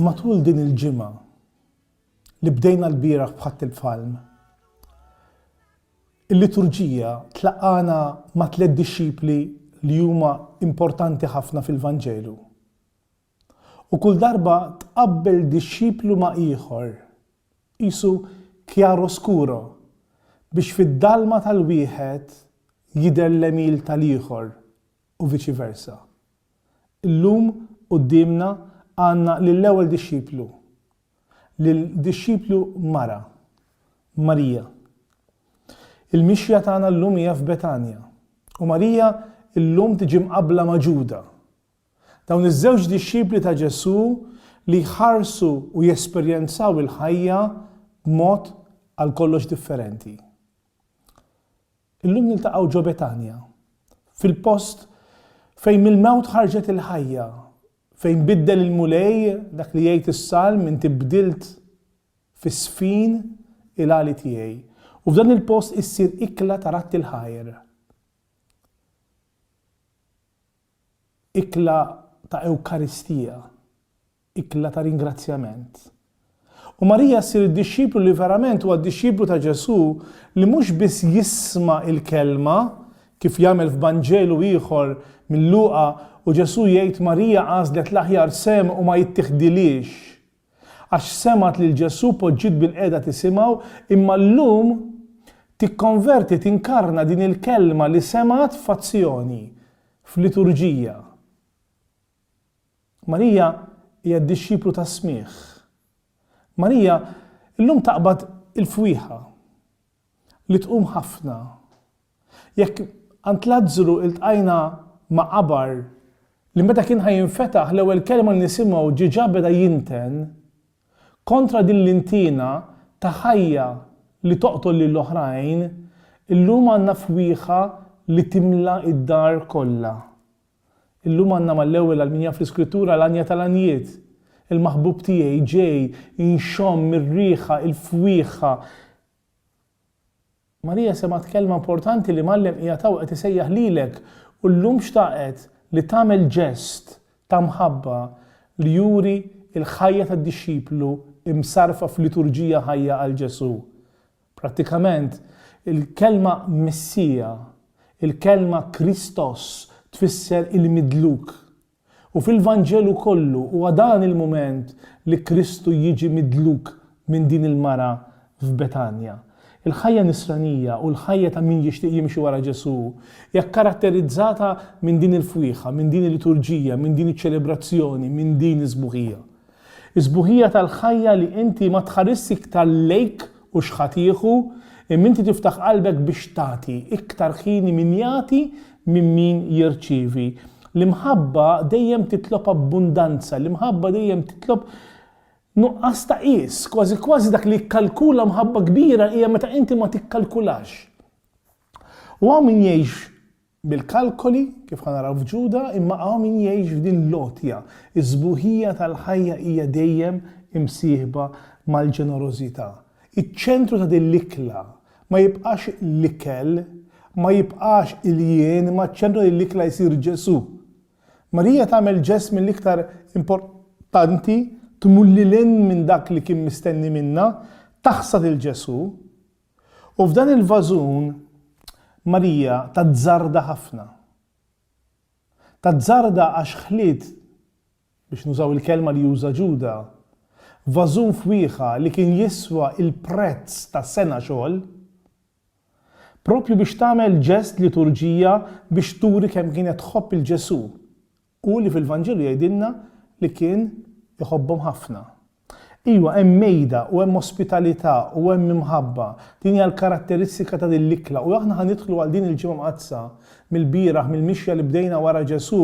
Matul din il-ġimgħa li bdejna l-bieraħ bħadd il-Palm, il-liturġija tlaqana ma' tliet dixxipli li huma importanti ħafna fil-Vanġelu. U kull darba tqabbel dixxiplu ma' ieħor, qisu chiaroscuro, biex fid-dalma tal-wieħed jidher l-għemil tal-ieħor u viċi versa. Illum quddiemna għandna lill-ewwel dixxiplu, lil dixxiplu mara, Marija. Il-mixja tagħna llum hija f'Betanja, u Marija llum tiġi mqabbla ma' Ġuda, Dawn iż-żewġ dixxipli ta' Ġesù li jħarsu u jesperjenzaw il-ħajja b'mod għal kollox differenti. Illum niltaqgħu ġo Betanja, fil-post fejn mill-mewt ħarġet il-ħajja, fejn biddel il-Mulej dak li jgħid is-Salm inti bdilt fis-sfin il-għali tiegħi, u f'dan il-post issir ikla ta' ratti l-ħajr. ikla ta' Ewkaristija, ikla ta' ringrazzjament. U Marija ssir id-dixxiplu li verament huwa d-dixxiplu ta' Ġesù li mhux biss jisma' l-kelma, kif jagħmel f'Vanġelu ieħor minn Luqa u Ġesù jgħid Marija għażlet l-aħjar sehem u ma jittiħdilhiex. għax semgħet lil Ġesù poġġiet bilqiegħda tisimgħu, imma llum tikkonverti tinkarna din il-kelma li semgħet f'azzjoni, f'liturġija. Marija hija d-dixxiplu tas-smigħ. Marija llum taqbad il-fwieħa li tqum ħafna Jekk għand Lazzru iltqajna ma' qabar li meta kien ħa jinfetaħ l-ewwel kelma li nisimgħu ġiġa beda jinten kontra din l-intiena ta' ħajja li toqtol lil oħrajn, illum għandna fwieħa li timla d-dar kollha. Illum għandna mal-ewwel għal min jaf l-Iskrittura l-għanja tal-għanjiet, il-maħbub tiegħi ġej inxomm ir-riħa, il-fwieħa, Marija semgħet kelma importanti li Mgħallem qiegħed hawn qed isejjaħ lilek u llum xtaqet li tagħmel ġest ta' mħabba li juri l-ħajja tad-dixxiplu msarrfa f'liturġija ħajja għal Ġesù. Prattikament, il-kelma Messija, il-kelma Kristos tfisser il-midluk. U fil-Vanġelu kollu huwa dan il-mument li Kristu jiġi midluk minn din il-mara f'Betanja. Il-ħajja nisranija u l-ħajja ta' min jixtieq jimxi wara Ġesù hija kkaratterizzata minn din il-fwieħa, minn din il-liturġija, minn din iċ-ċelebrazzjoni, minn din is-sbuħija. Is-sbuħija tal-ħajja li inti ma tħarisx iktar lejk u x'ħa tieħu, imma inti tiftaħ qalbek biex tagħti, iktar ħini min jagħti minn min jirċievi. L-imħabba dejjem titlob abbundanza, l-imħabba dejjem titlob nuqqas ta' qies, kważi kważi dak li jikkalkula mħabba kbira hija meta inti ma tikkalkulax. U hawn min jgħix Mill-kalkoli, kif ħa naraw f'Ġuda, imma hawn min jgħix f'din l-għotja. Is-sbuħija tal-ħajja hija dejjem imsieħba mal-ġenerożità. Iċ-ċentru ta' din l-ikla ma jibqax l-ikel, ma jibqax il-jien, imma ċ-ċentru ta' din l-ikla jsir Ġesù. Marija tagħmel ġest mill-iktar importanti, tmur lil hinn minn dak li kien mistenni minnha, taħsad 'il Ġesù, U f'dan il-vażun Marija tazzarda ħafna. Tazzarda għax ħliet, biex nużaw il-kelma li uża Ġuda, vażun fwieħa li kien jiswa l-prezz ta' sena xogħol, proprju biex tagħmel ġest liturġija biex turi kemm kienet tħobb 'il Ġesù U li fil-Vanġelu jgħidilna li kien iħobbhom ħafna. Iwa, hemm mejda u hemm ospitalità u hemm imħabba. Din hija l-karatteristika ta' din l-ikla u aħna ħa nidħlu għal din il-Ġimgħa Mqaddsa mill-bieraħ mill-mixja li bdejna wara Ġesù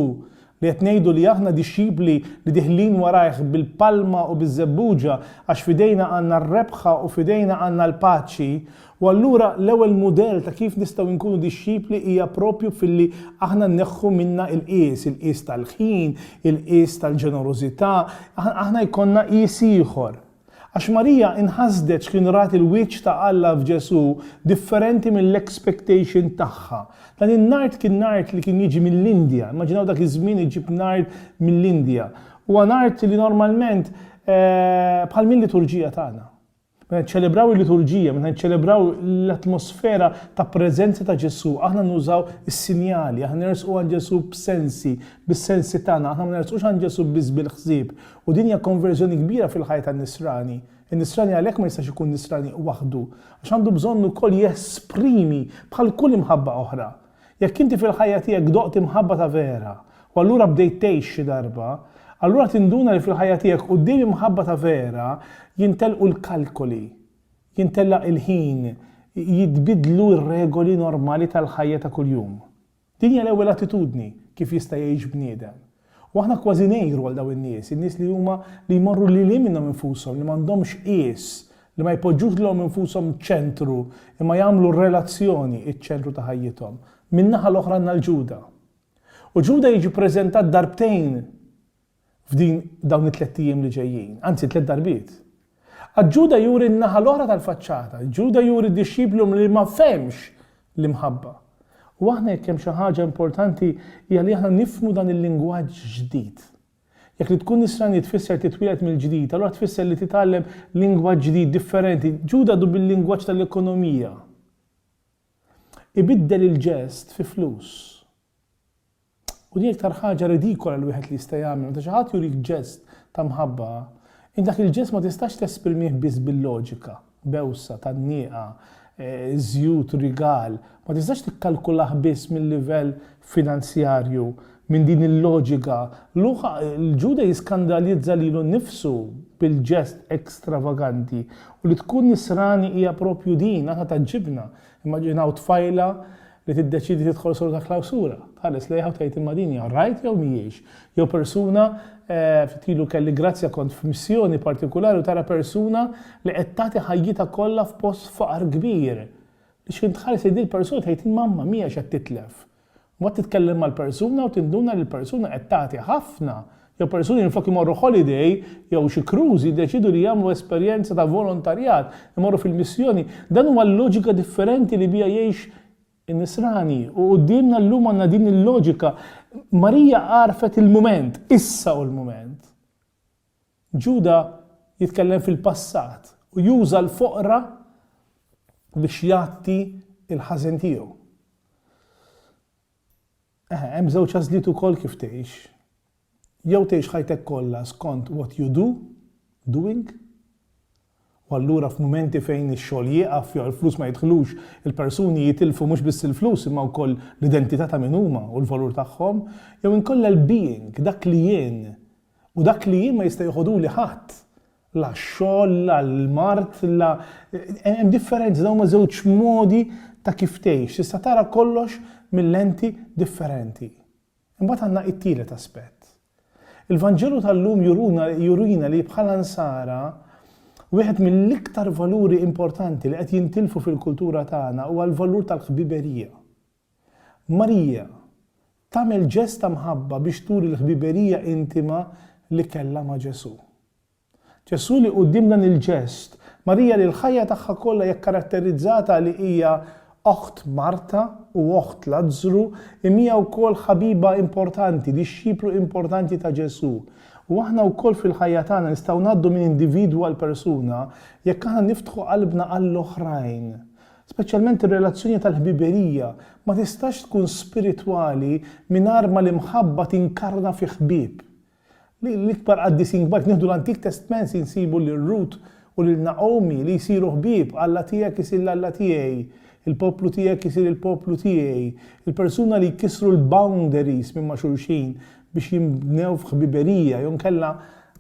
li qed ngħidu li aħna dixxipli li diħlin warajh bil-palma u biż-żebbuġa għax f'idejna għandna r-rebħa u f'idejna għandna l-paċi U allura l-ewwel mudell ta' kif nistgħu nkunu dixxipli hija proprju filli aħna nneħħu minna il-qies, il-qies tal-ħin, il-qies tal-ġenerożità, aħna jkollna qies ieħor. Għax Marija inħasdet x'kien rat il-wiċċ ta' Alla f'Ġesù differenti mill-expectation tagħha. Dan in-nard kien nard li kien jiġi mill-Indja, immaġinaw dak iż-żmien iġġib nard mill-Indja. Huwa nard li normalment bħal mil-liturġija tagħna. Meta niċċelebraw il-liturġija, meta niċċelebraw l-atmosfera ta' preżenza ta' Ġesù, aħna nużaw is-sinjali, aħna nersqu għand Ġesù b'sensi, bis-sensi tagħna, aħna ma nersqux għand Ġesù biss bil-ħsieb. U din hija konverżjoni kbira fil-ħajja tan-nisrani. In-nisrani għalhekk ma jistax ikun nisrani waħdu, għax għandu bżonn ukoll jesprimi bħal kull imħabba oħra. Jekk inti fil-ħajja tiegħek doqt imħabba ta' vera, u allura bdejt tgħix xi darba, allura tinduna li fil-ħajja tiegħek quddiem imħabba ta' vera jintelqu l-kalkoli, jintellaq il-ħin, jitbiddlu r-regoli normali tal-ħajja ta' kuljum. Din hija l-ewwel attitudni kif jista' jgħix bniedem. U aħna kważi ngħiru għal dawn in-nies, in-nies li huma li jmorru lil hinn minnhom infushom, li m'għandhomx qies, li ma jpoġġux lilhom infushom ċentru, imma jagħmlu r-relazzjoni ċ-ċentru ta' ħajjithom. Min-naħa l-oħra għandna 'l Ġuda. U Ġuda jiġi ppreżentat darbtejn f'din dawn it-tlett ijiem li ġejjin, anzi tliet darbiet. Għad Ġuda juri n-naħa l-oħra tal-faċċata. Ġuda juri dixxiplu li ma fehmx l-imħabba. U aħna jekk hemm xi ħaġa importanti hija li aħna nifhmu dan il-lingwaġġ ġdid. Jekk li tkun nisrani tfisser titwieled mill-ġdid, allura tfisser li titgħallem lingwaġġ ġdid differenti. Ġuda du bil-lingwaġġ tal-ekonomija. Ibiddel il-ġest fi flus. U din l-iktar ħaġa ridikola li wieħed li jista' jagħmel. Meta xi ħadd jurik ġest ta' mħabba, int dak il-ġest ma tistax tesprimih biss bil-loġika, bewsa, tgħannieqa, żjut, rigal. Ma tistax tikkalkulah biss mil-livell finanzjarju, minn din il-loġika. Luqa, il-Ġuda jiskandalizza lilu nnifsu bil-ġest ekstravaganti. U li tkun nisrani hija proprju din, aħna tgħaġġibna. Immaġinaw tfajla li tiddeċiedi tidħol solo ta' klawsura. Tħares lejha u tgħid imma din hija right jew mhijiex? Jew persuna, ftit ilu kelli grazzja kont f'missjoni partikulari u tara persuna li qed tagħti ħajjitha kollha f'post faqar kbir. Li x'ħin tħares lejn din il-persuna tgħid imma ma mhijiex qed titlef. Mbagħad titkellem mal-persuna u tinduna li l-persuna qed tagħti ħafna Jew persuni minflok imorru holiday jew xi cruise jiddeċiedu li jagħmlu esperjenza ta' volontarjat, imorru fil-missjoni. Dan huwa l-loġika differenti li biha jgħix in-Nisrani u quddiemna llum għandna din il-loġika. Marija għarfet il-mument, issa hu l-mument. Ġuda jitkellem fil-passat u juża l-foqra biex jgħatti l-ħażen tiegħu. Eħe, hemm żewġ għażliet ukoll kif tgħix. Jew tgħix ħajtek kollha skont what you do, doing, u allura f'mumenti fejn ix-xogħol jieqaf jew il-flus ma jidħlux, il-persuni jitilfu mhux biss il-flus imma wkoll l-identità ta' min huma u l-valur tagħhom, jew inkella l-being, dak li jien. U dak li jien ma jista' jeħodhuli ħadd. la x-xogħol, la l-mard, la hemm differenzi, dawn huma żewġ modi ta' kif tgħix. Tista' tara kollox mil-lenti differenti. Imbagħad għandna it-tielet aspett. Il-Vanġelu tal-lum juruna jurina li bħala nsara wieħed mill-iktar valuri importanti li qed jintilfu fil-kultura tagħna huwa l-valur tal-ħbiberija. Marija, tagħmel ġest ta' mħabba biex turi l-ħbiberija intima li kellha ma' Ġesù. Ġesù li quddiem dan il-ġest, Marija li l-ħajja tagħha kollha hija kkaratterizzata li hija oħt Marta u oħt Lazzru, imija wkoll ħabiba importanti, dixxiplu importanti ta' Ġesù. U aħna wkoll fil-ħajja tagħna nistgħu ngħaddu minn individwu għal persuna jekk aħna niftħu qalbna għall-oħrajn. Speċjalment ir-relazzjoni tal-ħbiberija ma tistax tkun spiritwali mingħajr ma l-imħabba tinkarna fi ħbieb. L-ikbar qaddisin kbar, jekk nieħdu l-Antik Testment insibu lil Rut u lil Nagħomi li jsiru ħbieb, Alla tiegħek isir l-Alla tiegħi, il-poplu tiegħek isir il-poplu tiegħi, il-persuna li jkissru l-boundaries minn ma' xulxin biex jinbnew f'ħbiberija, jew inkella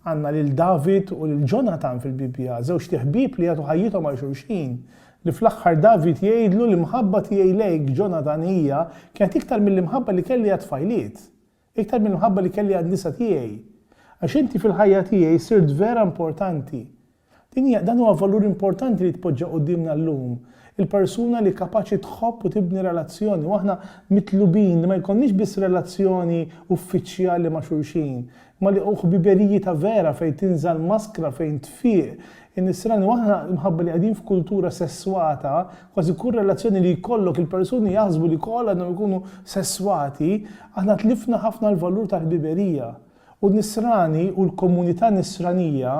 għandna lil David u lil Ġonatan fil-Bibbja, żewġt iħbieb li jagħtu ħajjithom għal xulxin. Li fl-aħħar David jgħidlu, L-imħabba tiegħi lejk, Ġonatan, hija, kienet iktar mill-imħabba li kelli għat-tfajliet, iktar mill-imħabba li kelli għan-nisa tiegħi. Għax inti fil-ħajja tiegħi sirt vera importanti. Din hija, dan huwa valur importanti li jitpoġġa quddiemna llum, il-persuna li kapaċi tħobb u tibni relazzjoni. U aħna mitlubin li ma jkollniex biss relazzjoni uffiċjali ma' xulxin, Ma li hu ħbiberiji ta' vera fejn tinżal maskra fejn tfieq in-nisrani u aħna imħabba li qegħdin f'kultura sesswata kważi kull relazzjoni li jkollok il-persuni jaħsbu li koll għandhom ikunu sesswati aħna tlifna ħafna l-valur tal-ħbiberija u n-nisrani u l-komunità nisranija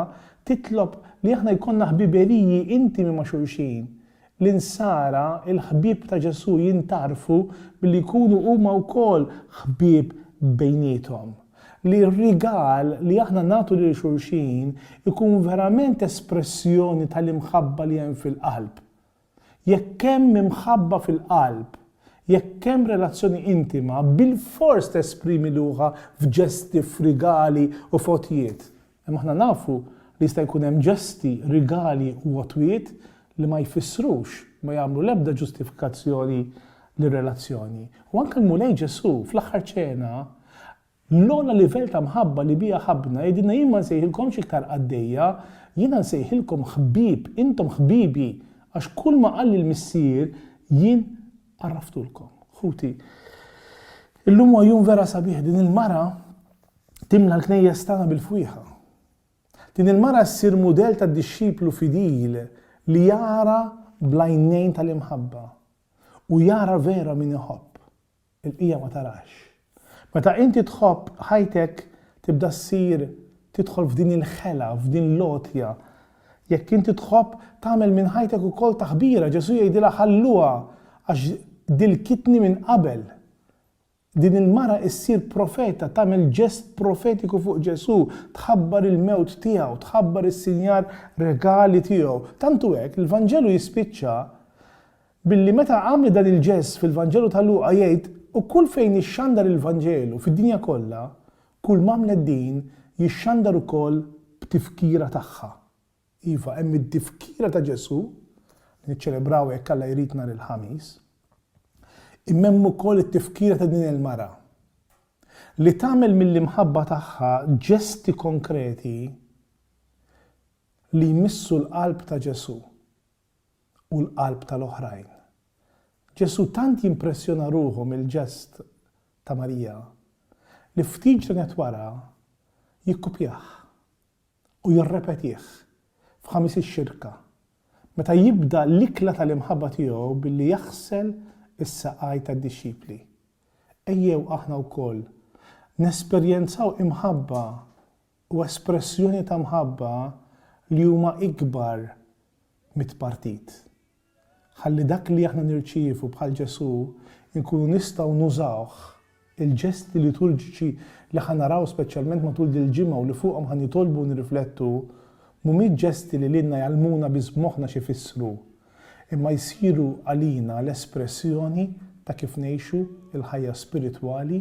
titlob li aħna jkollna ħbiberiji intimi ma' xulxin L-Insara, il-ħbieb ta' Ġesù jintgħarfu billi jkunu huma wkoll ħbieb bejniethom. Li r-rigal li aħna nagħtu lil xulxin ikun verament espressjoni tal-imħabba li hemm fil-qalb. Jekk hemm imħabba fil-qalb, jekk hemm relazzjoni intima, bilfors tesprimi luħha f'ġesti, f'rigali u f'għotjiet. Imma aħna nafu li jista' jkun hemm ġesti, rigali u għotwiet li ma jfissrux, ma jagħmlu l-ebda ġustifikazzjoni lir-relazzjoni. U anke l-Mulej Ġesù, fl-Aħħar Ċena, l-ogħla livell ta' mħabba li biha ħabbna, jgħidilna jien ma nsejħilkomx iktar qaddejja, jiena nsejħilkom ħbieb, intom ħbibi, għax kull ma qalli l-Missier jien għarraftulkom. Ħuti, illum huwa jum vera sabiħ, din il-mara Timla l-knejjes tagħna bil-fwieħa. Din il-mara ssir mudell ta' dixxiplu fidil li jara bl-għajnejn tal-imħabba u jara vera min iħobb. Il-bqija ma tarax. Meta inti tħobb, ħajtek tibda ssir tidħol f'din il-ħela, f'din l-għotja. Jekk inti tħobb, tagħmel minn ħajtek ukoll taħbira. Ġesù jgħidilha ħalluha għax dilkitni minn qabel. Din il-mara issir profeta, tagħmel ġest profetiku fuq Ġesù, tħabbar il-mewt tiegħu, tħabbar is-sinjar regali tiegħu. Tant hu hekk, l-Vanġelu jispiċċa billi meta għamlet dan il-ġest fil-Vanġelu ta' Luqa jgħid, U kull fejn ixxandar il-Vanġelu fid-dinja kollha, kulm'għamlet din jixxandar ukoll b'tifkira tagħha. Iva, hemm id-difkira ta' Ġesù, li niċċelebraw jekk Alla jrid nhar il-Ħamis, imma hemm ukoll it-tifkira ta' din il-mara, li tagħmel mill-imħabba tagħha ġesti konkreti li jmissu l-qalb ta' Ġesù u l-qalb tal-oħrajn. Ġesù tant jimpressjona ruħu mill-ġest ta' Marija li ftit ġranet wara jikkupjah u jirrepetih f'Ħamis ix-Xirka, meta jibda l-ikla tal-imħabba tiegħu billi jaħsel is-saqaj tad-dixxipli. Ejjew aħna wkoll nesperjenzaw imħabba u espressjoni ta' mħabba li huma ikbar mit-tpartit. Ħalli dak li aħna nirċievu bħal Ġesù nkunu nistgħu nużawh, il-ġesti liturġiċi li ħa naraw speċjalment matul dil-ġimgħa u li fuqhom ħa nitolbu u nirriflettu mhumiex ġesti li lilna jgħallmuna biss b'moħħna x'ifissru, imma jsiru għalina l-espressjoni ta' kif ngħixu l-ħajja spiritwali,